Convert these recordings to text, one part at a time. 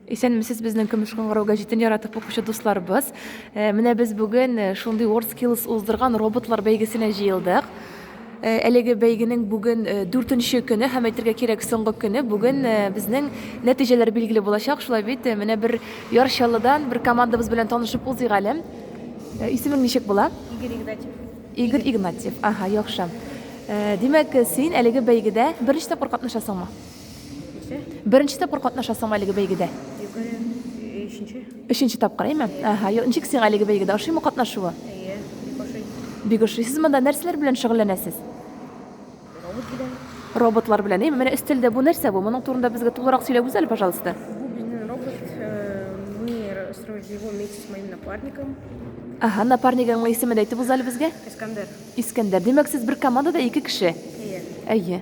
Исәнмесез безнең көмеш кыңгырау гәҗитен яратып укучы дусларыбыз. Э, менә без бүген э, шундый WorldSkills уздырган роботлар бәйгесенә җыелдык. Э, әлеге бәйгенең бүген дүртенче көне һәм әйтергә кирәк соңгы көне. Бүген безнең нәтиҗәләр билгеле булачак. Шулай бит, менә бер Яр Чаллыдан бер командабыз белән танышып узыйк әле. Исемең ничек була? Игорь Игнатьев. Игорь Игнатьев. Ага, яхшы. Димәк, син әлеге бәйгедә беренче тапкыр катнашасыңмы? Беренче тапкыр катнашасың әлеге бәйгедә? Өченче. Өченче тапкыр, әйме? Ага, ничек сиңа әлеге бәйгедә ошыймы катнашуы? Әйе, бик ошый. Бик ошый. Сез монда нәрсәләр белән шөгыльләнәсез? Робот белән. Роботлар белән, әйме? Менә өстәлдә бу нәрсә бу? Моның турында безгә тулырак сөйләп үзәл, пожалуйста. Бу безнең робот. Э, мы строили его вместе с моим напарником. Ага, напарнигыңның исемен дә әйтеп үзәл безгә. Искандер. Искандер. Димәк, сез бер командада ике кеше. Әйе. Әйе.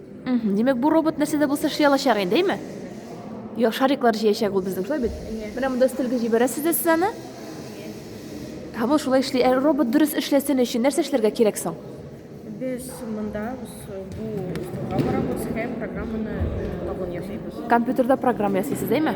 Димәк, бу робот нәрсә дә булса эшли алачак инде, әйме? Йо, шариклар җыячак ул безнең, шулай бит? Менә монда өстәлгә җибәрәсез дә сез аны. Һәм ул шулай эшли. Ә робот дөрес эшләсен өчен нәрсә эшләргә кирәк соң? Без монда бу столга барабыз һәм программаны табын ясыйбыз. Компьютерда программа ясыйсыз, әйме?